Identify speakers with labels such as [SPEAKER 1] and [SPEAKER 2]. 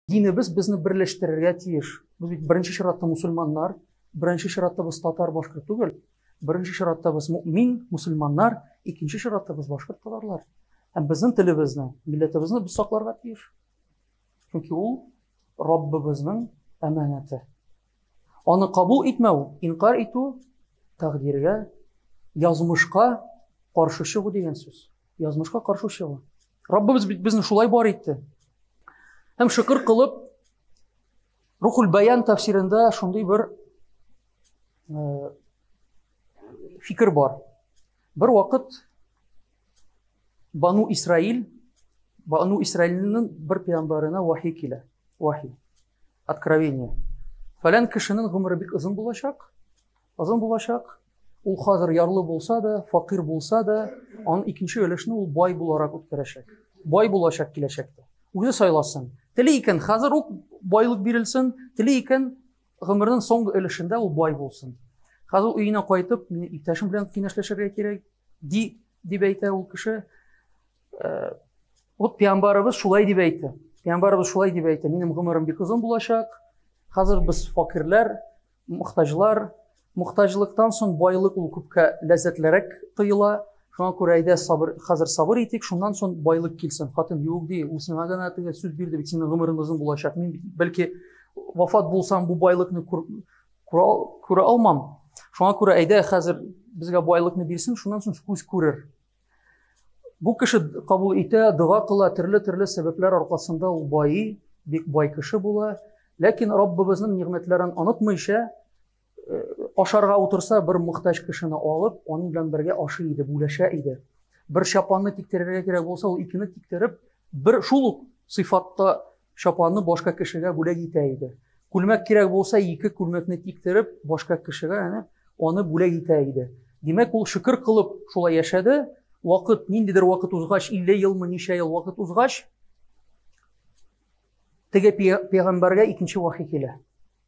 [SPEAKER 1] Динебез безне берләштерергә тиеш. Без бит беренче чиратта мусульманнар, беренче чиратта без татар башкорт түгел. Беренче чиратта без мөмин, мусульманнар, икенче чиратта без башкорт татарлар. Һәм безнең телебезне, милләтебезне без сакларга тиеш. Чөнки ул Раббыбызның әманәте. Аны кабул итмәү, инкарь итү, тәкъдиргә, язмышка каршы чыгу дигән сүз. Язмышка каршы чыгу. Раббыбыз бит безне шулай бар итте. Һәм шөкер кылып, Рухул Баян тәфсирендә шундый бер э, фикер бар. Бер вакыт Бану Исраил, Бану Исраилнең бер пиямбарына вахи килә. Вахи. Откровение. Фәлән кешенең гомере бик озын булачак. Озын булачак. Ул хәзер ярлы булса да, факир булса да, аның икенче өлешне ул бай буларак үткәрәчәк. Бай булачак киләчәктә. Үзе сайласын. Тели икән, хәзер үк байлык бирелсен, тели икән, Гомернең соңгы өлешендә ул бай булсын. Хәзер өенә кайтып, мин иптәшем белән киңәшләшергә кирәк, ди, дип әйтә ул кеше. Э, вот пиамбарыбыз шулай дип әйтте. Пиамбарыбыз шулай дип әйтте. Минем гомерем бик озын булачак. Хәзер без факирләр, мохтаҗлар, Мохтаҗлыктан соң байлык ул күпкә ләззәтлерәк тоела. Шуңа күрә әйдә сабыр, хәзер сабыр итик, шуннан соң байлык килсен. Хатын юк ди, ул сиңа гына теге сүз бирде бит, синең гомерең озын булачак. Мин бәлки вафат булсам, бу байлыкны күрә алмам. Шуңа күрә әйдә хәзер безгә байлыкны бирсен, шуннан соң күз күрер. Бу кеше кабул итә, дога кыла, төрле-төрле сәбәпләр аркасында ул байый, бик бай кеше була. Ләкин Раббыбызның нигъмәтләрен онытмыйча, э, ашарга утырса, бер мөхтәҗ кешене алып, аның белән бергә ашый иде, бүләшә иде. Бер чапанны тиктерергә кирәк булса, ул икене тиктереп, бер шул ук сыйфатта Чапанны башка кешегә бүләк итә иде. Күлмәк кирәк булса, ике күлмәкне тиктереп, башка кешегә әнә аны бүләк итә иде. Димәк, ул шөкер кылып шулай яшәде. Вакыт, ниндидер вакыт узгач, 50 елмы, ничә ел вакыт узгач, теге пәйгамбәргә икенче вахи килә.